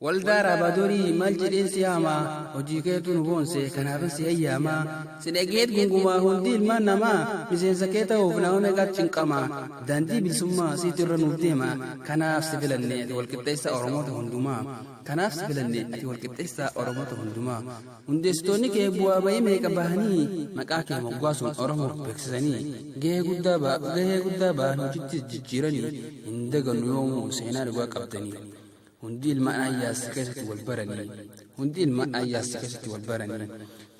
Waldaa Raabaadorii maal jedheen si yaamaa hojii keetu nu boonse kanaafin si eeyyaamaa si dhageet gungumaa hundi ilmaan namaa miseensa kee ta'uuf nama meeqaat cinqama daandii bilisummaa siitu irra nuuf deema kanaaf si filanne ati walqixxeessa oromoota hundumaa kanaaf si filanne ati walqixxeessa oromoota hundumaa Hundeessitoonni kee bu'aa ba'ii meeqa bahanii maqaa kee moggaasuun Oromoof beeksisanii gahee guddaa ba gahee guddaa ba'an hojittis jijjiiranii hin dagannu yoomuu seenaa dhugaa qabdanii. Hundi ilmaan ayyaassi keessatti wal baranii. Hundi ilmaan ayyaassi keessatti wal baranii.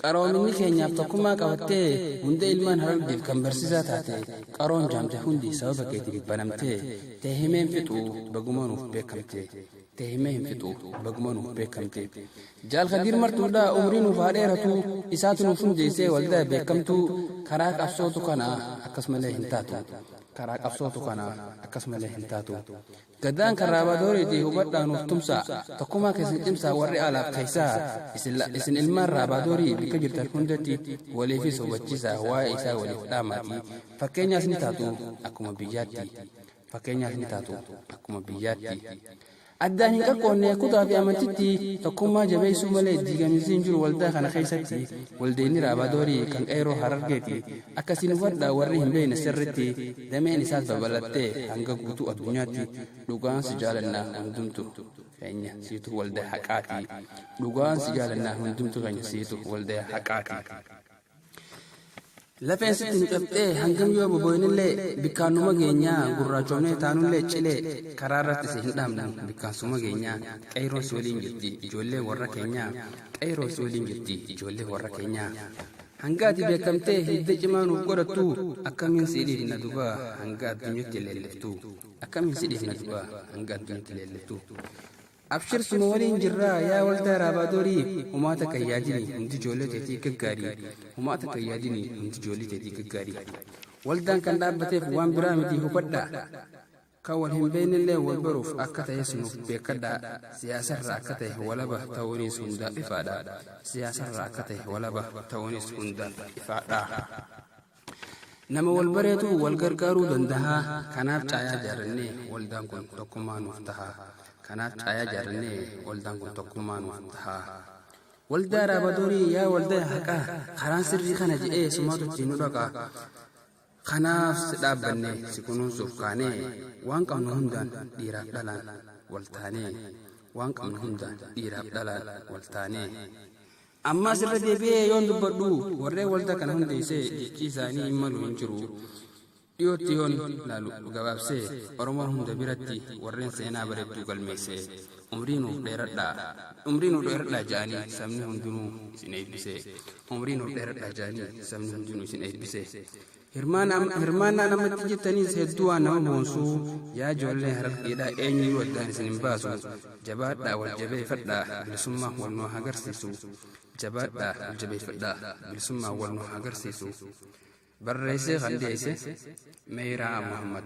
Qaroominni keenyaaf tokkummaa qabattee hunda ilmaan harargeef kan barsiisaa taate qaroon jaamte hundi sababa keetiin banamtee tee himeen fixuu bagumanuuf beekamte. te himee hin fixu baguma nuuf beekamte jaal kadiir martuudha umrii nuuf haa dheeratu isaatu nuuf hundeessee waldaa beekamtuu karaa qabsootu kana akkas malee hin taatu karaa qabsootu kana akkas malee hin taatu gadaan karaabaadooreetii hubadhaa nuuf tumsaa tokkumaa keessan cimsaa warri alaaf keessaa isin ilmaan raabaadoorii bikka jirtan hundatti waliifis hubachiisaa waa'ee isaa waliif dhaamaatii fakkeenyaas ni taatu akkuma biyyaatti fakkeenyaaf ni taatu akkuma biyyaatti. Addaan hin qaqqoonne kutaa fi amantitti tokkummaa jabeessuu malee diigamiinsi hin jiru waldaa kana keessatti waldeenni raabadoorii kan qeeroo harargeeti akkasiin hubadha warri hin beekne sirritti dameen isaas babalattee hanga guutuu addunyaatti dhugaan si jaalannaa hundumtu keenya siitu waldaa haqaati dhugaan si jaalannaa hundumtu keenya siitu waldaa haqaati. Lafeen sitti nu cabxee hangam yoo boboinillee bikkaan numa geenyaa gurraachoomnee taanullee cilee karaa irratti si hin dhaabnu bikkaan suma geenyaa qeeyroon si waliin jirti ijoollee warra keenyaa qeeyroon si waliin jirti ijoollee warra keenyaa. Hanga ati beekamtee hidda cimaa nuuf godhattu akkamiin si dhiifna duba hanga addunyatti leelliftu akkamiin si dhiifna duba hanga addunyatti leelliftu. Abshir suma waliin jirraa yaa waldaa raabaadorii humaa takka hin yaadini hundi ijoollee teetii gaggaarii humaa takka hin yaadini hundi ijoollee teetii gaggaarii waldaan kan dhaabbateef waan biraa miti hubadhaa kan wal hin beeknellee wal baruuf akka ta'e sunuuf beekadhaa siyaasarra akka ta'e walaba ta'uunis hundaaf ifaadha siyaasarra akka ta'e walaba ta'uunis hundaaf ifaadha. Nama wal bareetu wal gargaaruu dandaha. Kanaaf caayaa jaarrannee waldaan kun tokkummaa nuuf taha. Kanaaf caayaa jaarrannee waldaan kun tokkummaa nuuf taha. Waldaa Raabadorii yaa waldaa haqaa karaan sirrii kana jedhee sumaatu ittiin nu dhaqaa. Kanaaf si dhaabbanne si kunuunsuuf kaanee waan qabnu hundaan dhiiraaf dhalaan wal taanee waan qabnu hundaan dhiiraaf dhalaan wal taanee. Ammaas irra deebi'ee yoon dubbadhu warreen waldaa kana hundeessee jechii isaanii hin malu hin jiru. Dhiyootti yoon laalu gabaabsee Oromoo hunda biratti warreen seenaa bareedduu galmeessee umrii nuuf dheeradhaa umrii nuuf dheeradhaa ja'anii sabni hundinuu isin eebbisee umrii nuuf dheeradhaa ja'anii sabni hundinuu isin eebbisee Hirmaannaan amma itti jirtaniis hedduu waan nama boonsuu yaa ijoollee harargeedhaa eenyuyyuu addaan isin hin baasu jabaadhaa wal jabeeffadhaa bilisummaa wal nu haa agarsiisu jabaadhaa wal jabeeffadhaa bilisummaa wal nu haa agarsiisu barreessee kan dhiyeesse meeyiraa muhammad.